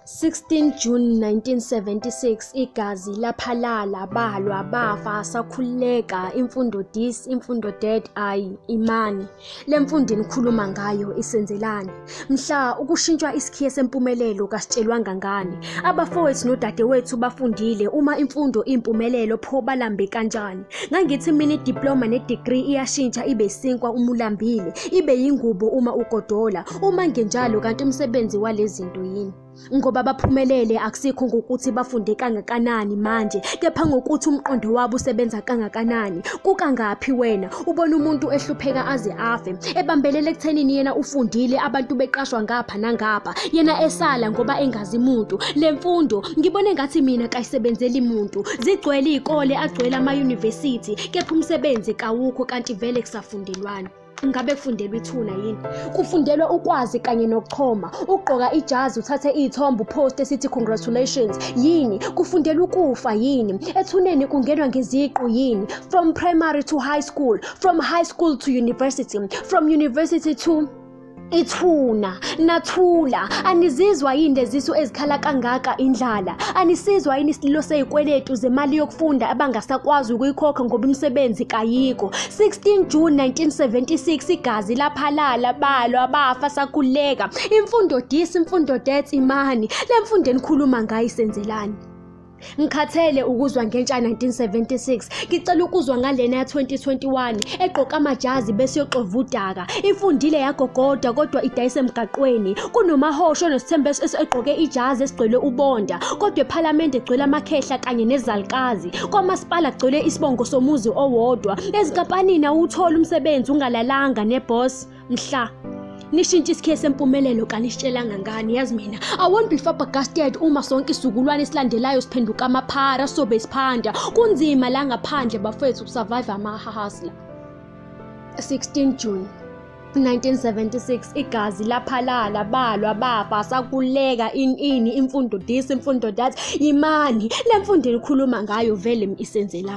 16 June 1976 igazi laphalala balwa bafa sakhuleka imfundo dis imfundo dead ay imani lemfundo enikhuluma ngayo isenzelani mhla ukushintshwa isikhiye sempumelelo kasitshelwanga ngani abafowethu nodadewethu bafundile uma imfundo impumelelo pho balambe kanjani Ngangithi mina idiploma nedegree iyashintsha ibe isinkwa uma ulambile, ibe yingubo uma ugodola. Uma ngenjalo kanti umsebenzi walezinto yini? Ngoba baphumelele akusikho ngokuthi bafunde kangakanani manje, kepha ngokuthi umqondo wabo usebenza kangakanani. Kukangaphi wena ubona umuntu ehlupheka aze afe, ebambelele ekuthenini yena ufundile abantu beqashwa ngapha nangapha, yena esala ngoba engazi muntu. Le mfundo ngibona engathi mina kayisebenzeli muntu. zigcwele iy'kole agcwele amayunivesithi kepha umsebenzi kawukho kanti vele kusafundelwani ngabe kufundelwa ithuna yini kufundelwa ukwazi kanye nokuchoma ugqoka ijazi uthathe iy'thombe upost esithi congratulations yini kufundelwa ukufa yini ethuneni kungenwa ngeziqu yini from primary to high school from high school to university from university to Ithuna, nathula, anizizwa yini lezisu ezikhala kangaka indlala? Anisizwa yini isililo sezikweletu zemali yokufunda abangasakwazi ukuyikhokha ngoba imisebenzi kayikho? 16 June 1976 igazi laphalala balwa bafa sakhuleka. Imfundo dis, imfundo death imani. Le mfundo enikhuluma ngayo isenzelani? Ngikhathele ukuzwa ngentsha 1976. Ngicela ukuzwa ngalena ya 2021 egqoka amajazi bese yoxova udaka. Ifundile yagogoda kodwa idayise emgaqweni. Kunomahosho nosithembu es- es- egqoke ijazi esigcwele ubonda. Kodwa ephalamende egcwele amakhehla kanye nezalikazi. Kwamasipala kugcwele isibongo somuzi owodwa. Ezinkampanini awutholi umsebenzi ungalalanga neboss. mhla nishintshe isikhiye sempumelelo kanisitshelanga ngani yazi mina i won't be flabbergasted uma sonke isizukulwane esilandelayo siphenduka amaphara sobe isiphanda kunzima la ngaphandle bafethu ukusurvive amahahasla 16 june 1976 igazi laphalala balwa bafa sakuleka in ini imfundo this imfundo that imani lemfundo elikhuluma ngayo vele isenzelani